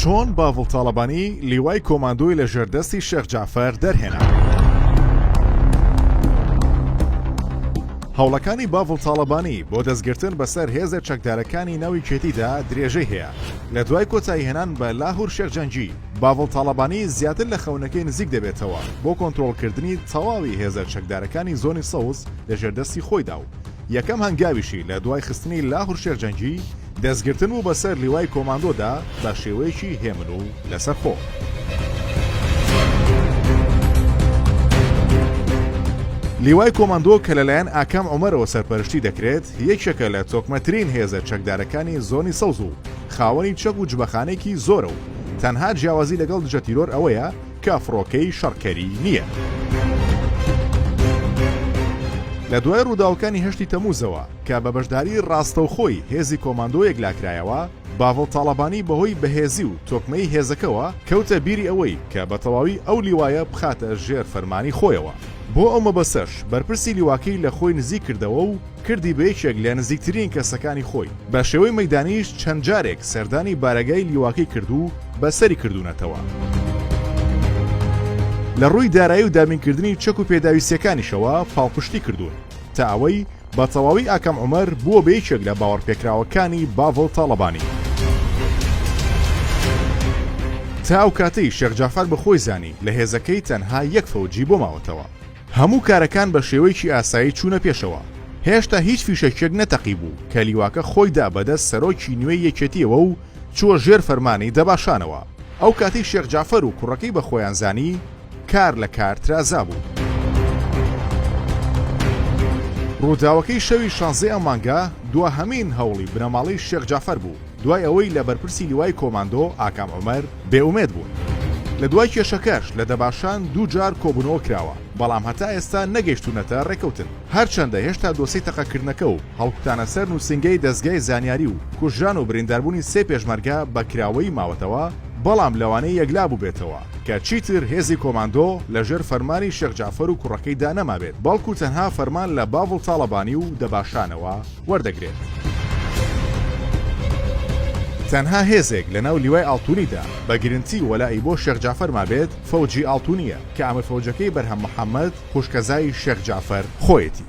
چۆن باڤڵ تاڵەبانی لیوای کۆماندۆی لە ژێردەستی شێخ جعفەر دەرهێنا هەوڵەکانی باڤڵ تاڵەبانی بۆ دەستگرتن بەسەر هێزە چەکدارەکانی ناوی کێتیدا درێژەی هەیە لە دوای کۆتایی هێنان بە لاهور شێخ جەنگی باڤڵ تاڵەبانی زیاتر لە خەونەکەی نزیک دەبێتەوە بۆ کۆنتترۆلکردنی تەواوی هێزە چەکدارەکانی زۆنی سەوز لە ژێردەستی خۆیدا و یەکەم هەنگاویشی لە دوای خستنی لاهور شێخ جەنگی دەستگرتن بوو بەسەر لیوای کۆماندۆدا بە شێوەیەکی هێمن و لەسەرخۆ. لیوای کۆماندۆ کە لەلایەن ئاکام عومەرەوە سەرپەرشتی دەکرێت یەکێکە لە تۆکمەترین هێزە چەکدارەکانی زۆنی سەوز و خاوەنی چەک و جبەخانێکی زۆرە و تەنها جیاوازی لەگەڵ دژە تیرۆر ئەوەیە کە فڕۆکەی شەڕکەری نییە. لە دوای ڕووداوەکانی هەشتی تەمووزەوە، کە بە بەشداری ڕاستەوخۆی هێزی کۆماندۆ یەکلاکرایەوە، باڤڵ تاڵەبانی بەهۆی بەهێزی و تۆکمەی هێزەکەوە کەوتە بیری ئەوەی کە بە تەواوی ئەو لیوایە بخاتە ژێر فەرمانی خۆیەوە. بۆ ئەو مەبەستەش بەرپرسی لیواکەی لە خۆی نزیک کردەوە و کردی بە یەکێک لە نزیکترین کەسەکانی خۆی. بە شێوەی مەیدانیش چەند جارێک سەردانی بارەگای لیواکەی کرد و بە سەری کردوونەتەوە. لە ڕووی دارایی و دابینکردنی چەک و پێداویستییەکانیشەوە پاڵپشتی کردوون تا ئەوەی بە تەواوی ئاکام عومەر بووە بە یەکێک لە باوەڕپێکراوەکانی باڤڵ تاڵەبانی. تا ئەو کاتەی شێخ جەعفەر بە خۆی زانی لە هێزەکەی تەنها یەک فەوجی بۆ ماوەتەوە. هەموو کارەکان بە شێوەیەکی ئاسایی چوونە پێشەوە. هێشتا هیچ فیشەکێک نەتەقیبوو کە لیواکە خۆی دا بە دەست سەرۆکی نوێی یەکێتییەوە و چووە ژێر فەرمانی دەباشانەوە. ئەو کاتەی شێخ جەعفەر و کوڕەکەی بە خۆیان زانی، کار لە کار ترازا بوو. ڕووداوەکەی شەوی شانزەی ئەم مانگە دواهەمین هەوڵی بنەماڵەی شێخ جەعفەر بوو، دوای ئەوەی لە بەرپرسی لیوای کۆماندۆ ئاکام عومەر بێ ئومێد بوون. لە دوای کێشەکەش لە دەباشان دوو جار کۆبوونەوە کراوە، بەڵام هەتا ئێستا نەگەیشتوونەتە ڕێککەوتن. هەرچەندە هێشتا دۆسێی تەقەکردنەکە و هەڵکوتانە سەر نووسینگەی دەزگای زانیاری و کوژران و برینداربوونی سێ پێشمەرگە بە کراوەیی ماوەتەوە، بەڵام لەوانەیە یەکلا بووبێتەوە کە چیتر هێزی کۆماندۆ لە ژێر فەرمانی شێخ جەعفەر و کوڕەکەی دا نەمابێت بەڵکوو تەنها فەرمان لە باڤڵ تاڵەبانی و دەباشانەوە وەردەگرێت. تەنها هێزێک لە ناو لیوای ئاڵتوونی دا بە گرنتی وەلائی بۆ شێخ جەعفەر مابێت فەوجی ئاڵتوونییە کە ئامرفەوجەکەی بەرهەم محەمەد خوشکەزای شێخ جەعفەر خۆیەتی.